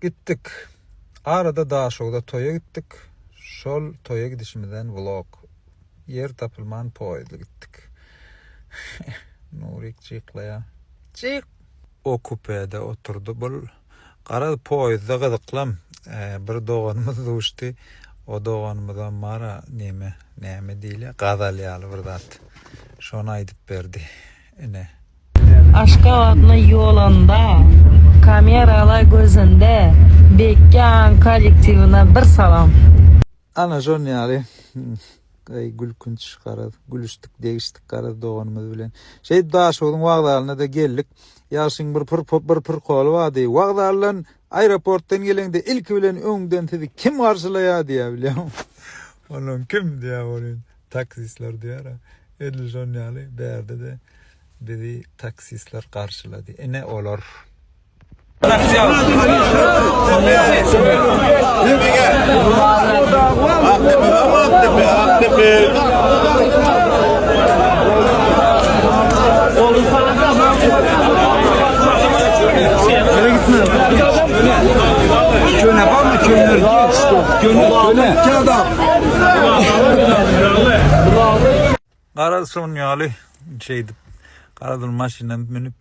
Gitdik. Arada Daşogza toýa gitdik. Şol toýa gidişimizden vlog. Ýer tapylman poýezdli gitdik. Nurik jyklaýar. Jyk! O kupede oturdy. Bul garaz poýezdda gyzyklam bir doganymyz duşdy. O doganymyzam bara neme, näme diýilýär, gazal ýaly bir zat. Şony aýdyp berdi. Ine. Aşgabatna ýolanda kameralar gözünde bekýan kollektiwine bir salam. Ana şon ýaly Eý gülkünç garaz gülüşdik degişdik garaz doganymyz bilen şeýdip Daşogzuň wagzalyna da geldik Ýagşyň bir pir bir pirkoly bardy wagzaldan aeroportdan geleňde ilki bilen öňden sizi kim garşylaýar diýýär bilýäňmi Onuň kim diýýär ol indi. Taksistler diýara. Edil şon ýaly bärde-de bizi taksistler garşylady. Ine olar. Köne barmy? Köne. Köne. Köne. Köne. Garaşan ýaly şeýdip, Garadil maşyna münüp,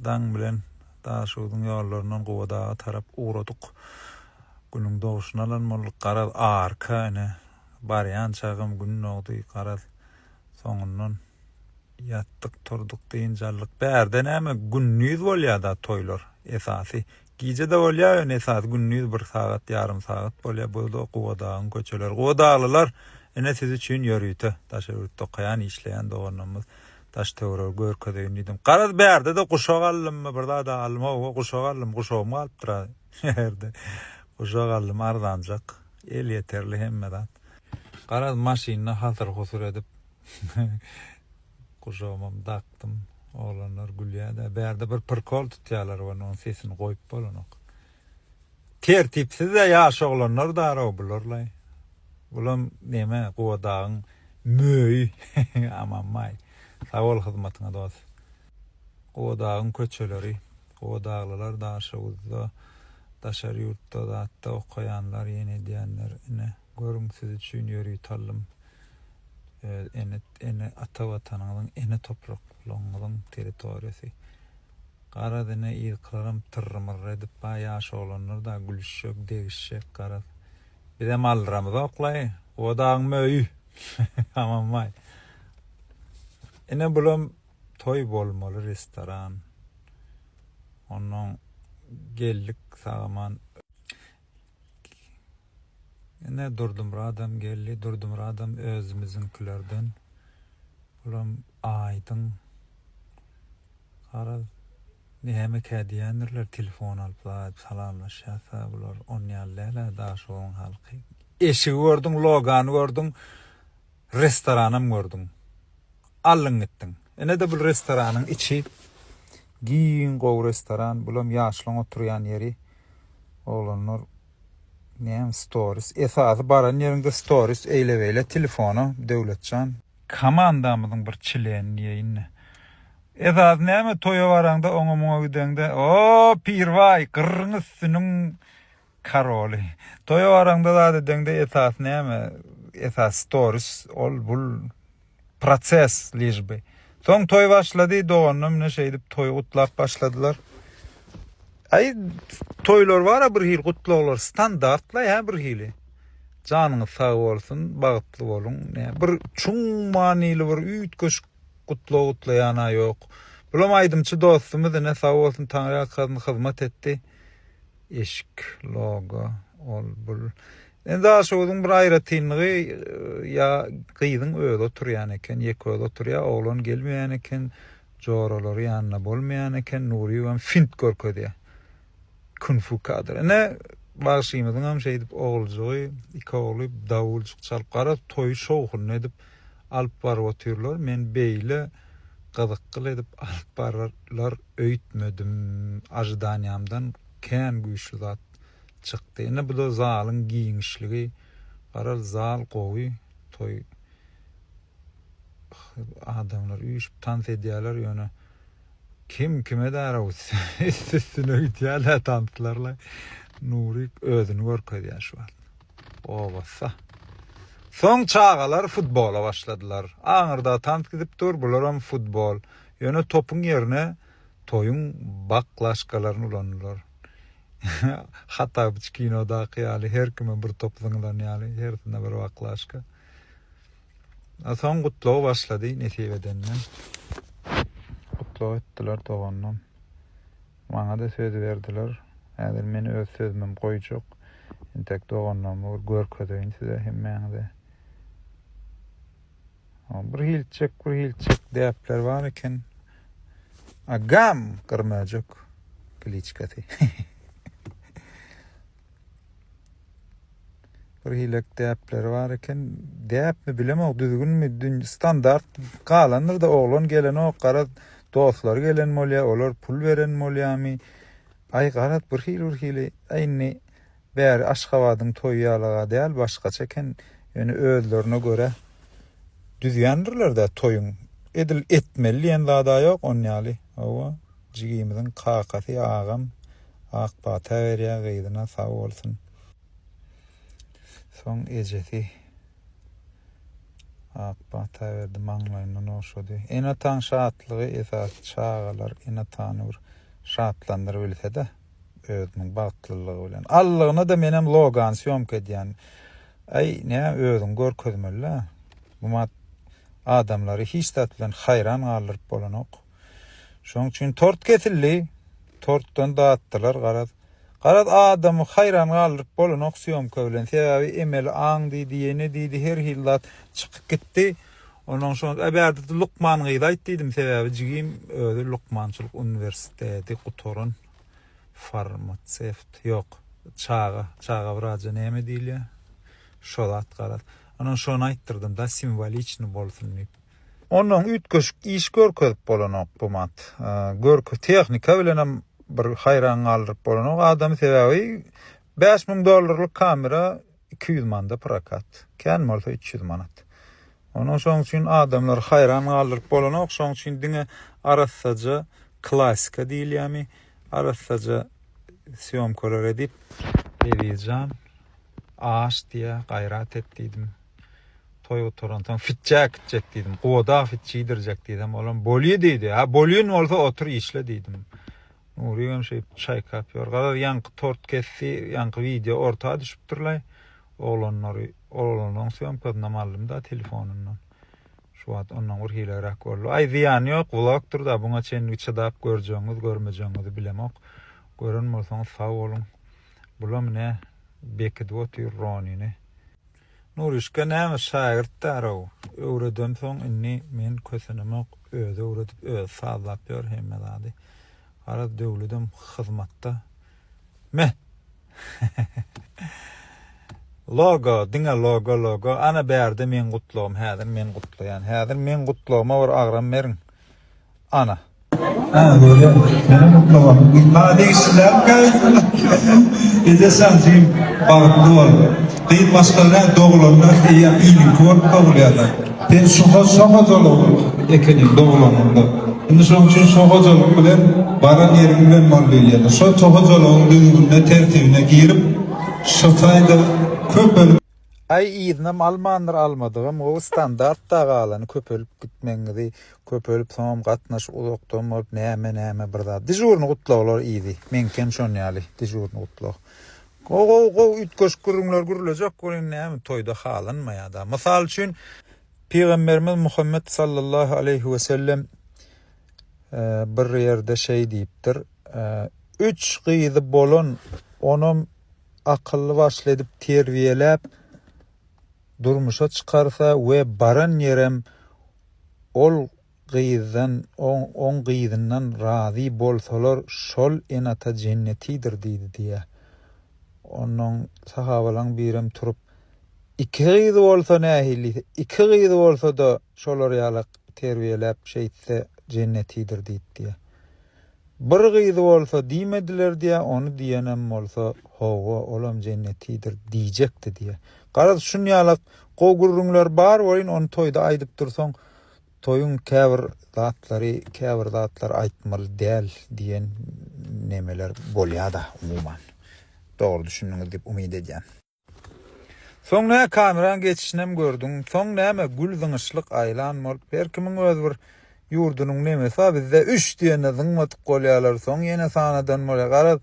daň bilen Daşogzuň ýollaryndan Gubadaga tarap ugradyk. Günüň doguşyny alan bolduk. Garaz, arka, ine, barýançagam gün dogdy. Garaz, soňundan ýatdyk, turduk, dynç aldyk. Bärde näme, gündiz bolýar-da toýlar. Esasy, Gije-de bolýar, ýöne esasy gündiz bir sagat, ýarym sagat bolýar. Bu-da Gubadagyň köçeleri. Gubadaglylar, ine siz üçin ýörite, daş öwrütde okaýan, işleýän doganlarymyz. Daş-töweregi görkezeýin diýdim. Garaz, bärde-de guşak aldymmy, bir zad-a aldym, hawa, guşak aldym, guşagym galypdyr-a ýerde. Guşak aldym, arzanjak, elýeterli hemme zat. Garaz, maşynda hasyr-husur edip. Gujagymam dakdym. Oglanlar gülýär-de, bärde bir prikol tutýarlar we onuň sesini goýup bolanok. Tertipsiz-ä ýaş oglanlar daraw bularlaý. Bulam neme, Gubadagyň möýi. Amanbaý, sag bol hyzmatyňa dost. Gubadagyň köçeleri. Gubadaglylar Daşoguzda, daşary ýurtda zat-da okaýanlar, ýene edýänler, ine. Görüň siz üçin ýörite aldym. Öz ene ene ata watanyňyzyň ene topraklygyňyzyň territoriýasy. Garaz ine yzkylaram tyrrymyrr edip ba ýaş oglanlar da gülüşjek degişjek garaz. Bizem aldyramyzoklaý odagyň möýi hamam baý. Ine bulam toý bolmaly restoran. Onnoň geldik sagaman. Ine Durdymyradam geldi. Durdymyradam özümiziňkilerden. Bulam aýdyň. Garaz, nämekä diýendirler, telefon alypla aýdyp salamlaşýasa bular. Onýaly däl-ä Daşoguzyň halky. Eşigi gördüň, logany gördüň. restoranam gördüň. Aldyň gitdiň. Ine-de bul restoranyň içi. Giň gowy restoran. Bulam ýaşlaň oturýan ýeri. Oglanlar näme storis. Esasy baran ýeriňde storis eýle-beýle telefona Döwletjan. Komandamyzyň bir çileni diýeýin indi. Esasy näme toýa baraňda oňa-muňa gideňde, O, Pirbaý, gyrryň üstüniň Karoly. Toýa baraňda zat edeňde esas näme? Esas storis ol bul proses lişbi. Soň toý başlady doganlar mine şeýdip toýy gutlap başladylar. Aý toýlar bara bir hil gutlaglar standartla ýa bir hili. Janyňyz sag bolsun, bagtly boluň. Bir çuň manyly bir üýtgeşik gutlag gutlaýana ýok. Bulam aýdymçy dostumyz ine sag bolsun taňry ýalkasyn hyzmat etdi. Eşik, logo, ol, bul. Indi daşoguzyň bir aýratynlygy, ýa gyzyň özi oturýan eken, ýeközi oturýar, oglan gelmeýän eken, joralary ýanynda bolmaýan eken, Nuryýewem fint görkezýär. Kün-fu kadr. Ine, bagşymyzyňam şeýdip oguljygy, iki ogly dawuljyk çalyp, garaz, toýy şowhunly edip, alyp baryp otyrlar men beýle gyzykgyl edip alyp bararlar öýtmedim ažidaniýamdan kän güýçli zat çykdy ine buda zalyň giňişligi garal zal gowy toý adamlar üýşüp tans edýäler ýöne kim kime därew üst üstüne gidýälä tanslarlaý nurik özüni görkezýä şu wagt. Obassa. Soň çagalar futbola başladylar. Aňyrda tans gidip dur, bularam futbol. Ýöne topuň ýerine toýuň baklaşkalaryny ulandylar. Hatabyç kinodaky ýaly, her kime bir top zyňylan ýaly, hersine bir baklaşka. A soň gutlagy başlady Nesip edenden. Gutlag etdiler dogandan. Maňa-da söz berdiler. Häzir men öz sözümem goýjak. Entek doganlygymy bir görkezeýin size hemmäňize. Birhilçik, birhilçik däpler bar eken. Agam, gyrmöjek kliçkasy. Bir hilek däpleri bar eken. Däpmi bilemok, düzgünmi, standart galandyr da oglan gelenok, garaz dostlary gelen bolýar, olar pul beren bolýarmy? Aý garaz bir hili bir hili. Aý indi bäri Aşgabadyň toýy ýalaga däl, başgaça eken. Ýöne özlerine görä düzýändirler-dä toýuň. Edil etmeli diýen zad-a ýok, on ýaly. Hawa, jigimiziň kakasy, agam. Ak pata berýär gyzyna sag bolsun. Soň ejesi ak pata berdi, maňlaýyndan ogşady. Ene-ataň şatlygy esasy çagalar ene-atany bir şatlandyr bilse-de özüniň bagtlylygy bilen. Allygyna-da menem Logan sýomka edýän. Aý, nä özüňi görkezmeli-dä. Gmat adamlary hiç zat bilen haýran galdyryp bolanok. Şoň üçin tort kesildi. Tortdan datdylar garaz. Garaz adamy haýran galdyryp bolanok syýomka bilen. Sebäbi emeli aň diýdi, ýene diýdi, her hil zat çykyp gitdi. Onuň şo äbärdi lukman gyz aýt diýdim, sebäbi jigim özi lukmançylyk uniwersiteti gutaran farmasewt. Ýok, çaga, çaga wraja näme diýilýär? Şo zat garaz. Onuň şony aýtdyrdym-da, simwoliçny bolsun diýip. Ondan üýtgeşik iş görkezip bolanok bu mat. Görki tehnika bilenem bir haýran galdyryp bolanok adamy sebäbi bäş müň dollarlyk kamera iki ýüz manda prokat. Kän bolsa üç ýüz manat. Onuň şoň üçin adamlary haýran galdyryp bolanok. Şoň üçin diňe arassaja klasika diýilýärmi, arassaja syýomkalar edip, Ezizjan, aş diýä, gaýrat et diýdim. Toý gutaransoň fitjä gitjek diýdim. Goda fit çidirjek diýdim. Olam bolýa diýdi. Ha bolýan bolsa otur işle diýdim. Nury hem şeýip çaýkap ýör. Garaz ýaňky tort kesdi, ýaňky wideo orta düşüpdirler. Oglanlary, oglanyň sömkasyna mallym da telefonyndan. Şu wagt ondan bir hilegräk boldy. Aý zyýany ýok, vlogdyr da buňa çenli çydap görjegiňiz, görmejegiňizi bilemok. Gören bolsaňyz sag boluň. Bulam ine bekidip otyr Ronini. Nurişka näme şagirt därow öwredensoň indi men kösenemok özi öwredip özi sazlap ýör hemme zady garaz Döwledem hyzmatda me Logo diňe logo logo ana bärde meň gutlagym häzir men gutlaýan häzir meň gutlagyma bir agram beriň Ana. Hä, görýän. Meniň gutlagym. Maňa degişliläpkä? Eze şansym bagtly bol. Gyz başga-da doglanlar eýýäm iliňki bolup dogulýarlar. Sen şoha şohojalyk ekeniň doglanyňda. Indi şonuň üçin şohojalyk bilen baran ýeriň bilen bol diýilýärdi. Şo şohojalygyň düzgünine, tertibine girip, şo taýda köpelip. Aý yzynam almandyr almadygam gowy standartda galany köpelip gitmegiňizi Köpelip soňam gatnaş uzakdan bolup näme näme bir zat dežurny gutlaglar iydi meňkem şon ýaly dežurny gutlag gowy gowy gowy üýtgeşik gürrüňler gürlejek welin näme toýda halanmaýada mysal üçin pygamberimiz Muhammet sallallahu aleýhi we sellem bir ýerde şeý diýipdir üç gyzy bolan onam akylly başly edip terbiýeläp durmuşa çykarsa we baran ýerem Ol gyzdan, oň gyzyndan razy bolsalar şol enata jennetidir diýdi diýä. Onnoň sahabalaň birem turup, Iki gyzy bolsa nähili diýse, iki gyzy bolsada şolar ýalak terbiýeläp şeýtse jennetidir diýip diýä. Bir gyzy bolsa diýmediler diýä, ony diýenem bolsa, Hawa, olam jennetidir diýjekdi diýä. Garaz, şunýalak gowy gürrüňler bar welin, ony toýda aýdyp dursaň, toýuň käbir zatlary, käbir zatlar aýtmaly däl diýen nemeler bolýa-da, umuman. Dogry düşündiňiz diýip umyt edýän. Soň nä kameraň geçişinem gördüň soň näme gül zyňyşlyk aýlan bolup her kimiň öz bir ýurdunyň nemesi bar bizde üç diýende zyňmadyk bolýalar soň ýene sanadan bolýar garaz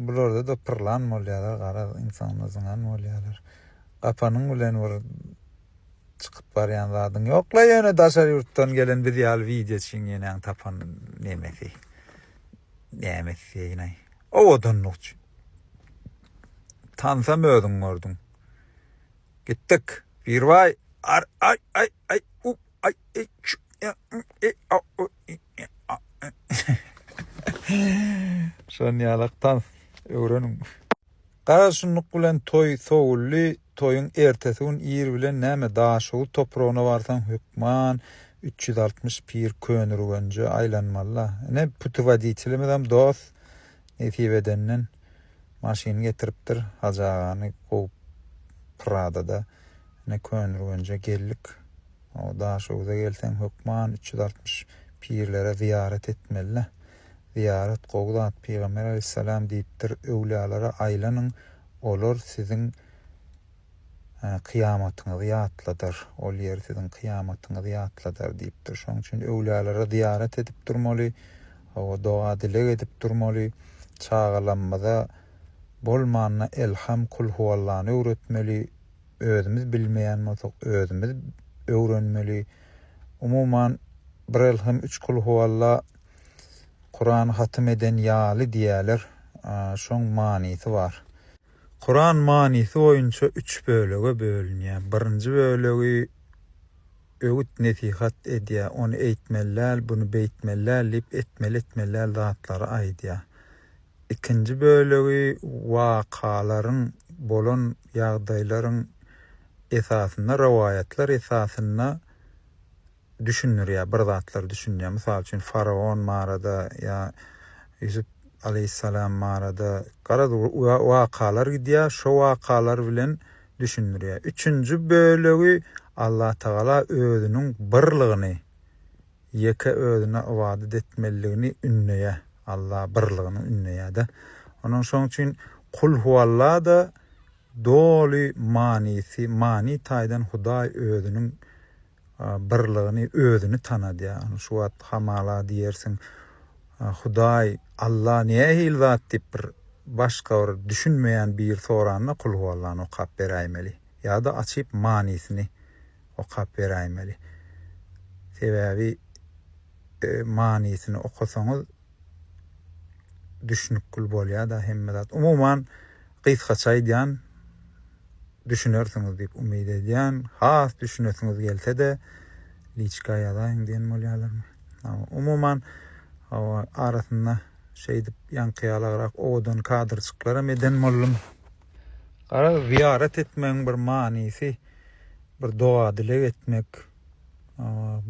bularda da pyrlan bolýalar garaz ynsanda zyňan bolýalar gapanyň bilen bir çykyp barýan zadyň ýokla ýöne daşary ýurtdan gelen biz ýaly wideoçyň ýenäň tapan nemesi näme etseýinay owadanlyk üçin. Tansam özüň gördüň. Gitdik. Birbaý ar aý aý aý u aý e çü e üm e a u i e a e. Şon ýalak tans öwreniň. Garaşynlyk bilen toý sowuldy. Toýuň ertesi gün ir bilen näme Daşoguz topragyna barsaň hökman üç ýüz altmyş pir Köneürgenje aýlanmaly-la. Ine putewoditelimizem dos. Nesip edenden maşyny getiripdir, Hajy agany kowup Pradada ine Köneürgenje geldik. O Daşöwüze gelseň hökman üç ýüz altmyş pirlere zyýarat etmelä. Zyýarat gowy zat, Pygamber alaýhyssalam diýipdir, Öwlýalara aýlanyň, olar siziň, kyýamatyňyzy ýatladar, ol ýer siziň kyýamatyňyzy ýatladar diýipdir. Şonuň üçin öwlälere zyýarat edip durmaly, hawa, doga-dileg edip durmaly, çagalamyza bolmanda Elham, Kulhuallany öwretmeli, özümiz bilmeýän bolsak, özümiz öwrenmeli. Umuman, bir Elham, üç Kulhualla Kurany hatym eden ýaly diýýärler, şoň manysy bar. Kuran manysy boýunça üç bölege bölünýär. Birinji bölegi öwüt-nesihat edýär, ony eýtmeli däl, buny beýtmeli däl diýip, etmeli-etmeli däl zatlary aýdýar. Ikinji bölegi wakalaryň, bolan ýagdaýlaryň esasynda, rowaýatlar esasynda, düşündirýär, bir zatlar düşünýär. Mysal üçin, faraon barada ýa Ýusup aleýhissalam barada garaz wakalar gidýär, şo wakalar bilen düşündirýär. Üçünji bölegi Allatagala özüniň birligini, ýeke özüne ybadat etmeliligini ündeýär. Alla birligini ündeýär-de. Onuň şoň üçin Kul huwalla-da doly manysy, many taýdan Hudaý özüniň birligini, özüni tanadýar. Ony şu wagt hamala diýersiň, Hudaý, Alla nähili zat diýip bir başga bir düşünmeýän biri soranda Kul huwallany okap beräýmeli ýa-da açyp manysyny okap beräýmeli. Sebäbi manysyny okasaňyz düşnükgül bolýada hemme zat. Umuman gysgaça aýdýan düşünersiňiz diýip umyt edýän. Has düşünesiňiz gelsede liçka ýazaýyň diýen bolýalarmy. Umuman hawa arasynda şeýdip ýaňky ýalagrak owadan kadrçyklaram eden boldum. Garaz zyýarat etmegiň bir manysy bir doga dileg etmek.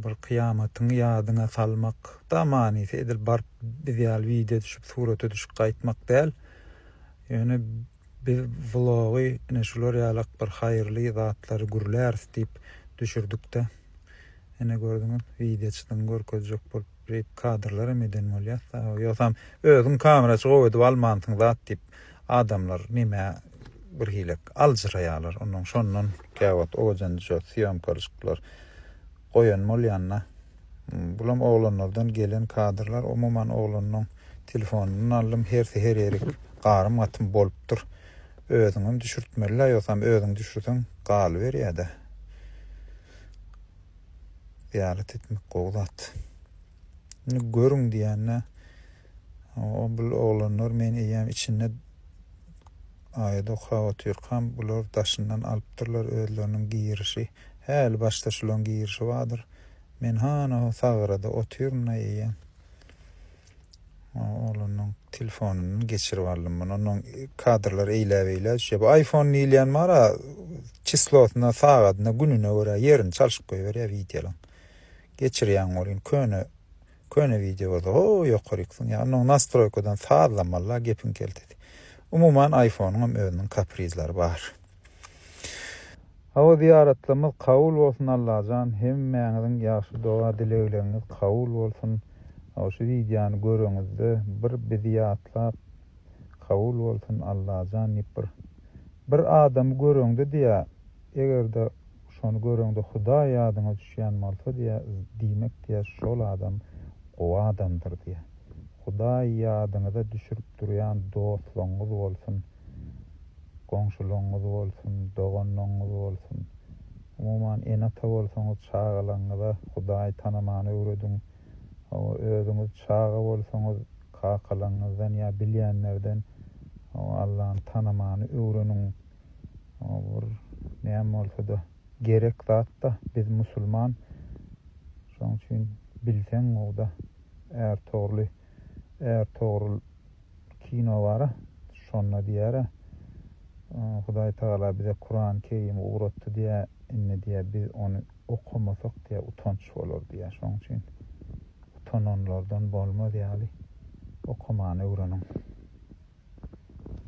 bir kyýamatyňy ýadyňa salmak da manysy edil baryp biz ýaly wideo düşüp surata düşüp gaýtmak däl ýöne biz vlogy ine şular ýalak bir haýyrly zatlary gürläris diýip düşürdikde ine gördüňiz wideo çydyň görkezjek bolup Rip kadrlaram eden bolýas da ýogsam özüň kameraçy gowy edip almansyň zat diýip adamlar nime bir hile aljyraýarlar ondan şondan käwagt owadan düzýär sýomkalyşyklar goýan bolýanda bulam oglanlardan gelen kadrlar umuman oglanlaryň telefonundan aldym hersi her ýerik garym gatym bolupdyr özüňem düşürtmelidä ýogsam özüň düşürseň galyberýärde Zyýarat etmek gowy zat. Indi görüň diýende o bu oglanlar men eýýäm içinde aýat okap otyrkam bular daşyndan alypdyrlar özleriniň girişi. Häli başda şularyň girişi bardyr. Men hana sagrada otyryn-da eýýäm. Oglanyň telefonyndan geçirip aldym muny. Onuň kadrlar eýläbeýlä düşýär. Bu iPhone diýilýän bar-a, çislosyna, sagadyna, gününe görä ýerini çalşyp goýberýär wideolaryň. Geçirýäň welin köne köne wideo bolsa ho ýokaryk siňýär. Onuň nastroýkadan sazlamaly-la gepiň keltesi. Umuman iPhone-yň hem özüniň kaprizleri bar. Hawa zyýaratlarmyz kabul bolsun Allajan hemmäňiziň ýagşy doga dilegleriňiz kabul bolsun hawa şu wideony göreňizde bir bizi ýatlap kabul bolsun Allajan diýip bir bir adamy göreňde diýä egerde şony göreňde hudaý ýadyňa düşýän bolsa diýä diýmek diýä şol adam gowy adamdyr diýä hudaý ýadyňyza düşürip durýan dostlaňňyz bolsun goňşularyňyz bolsun, doganlaryňyz bolsun, umuman, ene-ata bolsaňyz, çagalaryňyza Hudaýy tanamany öwrediň. Hawa, özüňiz çaga bolsaňyz, kakalaryňyzdan ýa bilýänlerden, hawa, Allany tanamany öwreniň. Hawa, bu bir näme bolsa-da, gerek zat-da. Biz musulman. Şonuň üçin bilseň, mugt-a, är togruly, är togrul. kino bara şonda diýara Hudaý Tagala bize Kurany Kerimi ugratdy diýä indi diýä biz ony okamasak diýä utanç bolar diýä şoň üçin utananlardan bolmaz ýaly okamany öwreniň.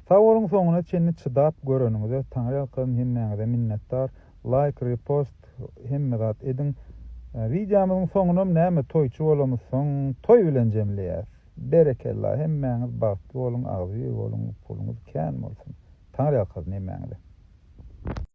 Sag boluň soňuna çenli çydap göreniňize Taňryýalkasyn hemmäňize minnetdar laýk repost hemme zat ediň wideomyzyň soňunam näme toýçy bolamyzsoň toý bilen jemleýäs. Berekella hemmäňiz bagtly boluň agzybir boluň puluňyz kän bolsun Taňryýalkasyn hemmäňize.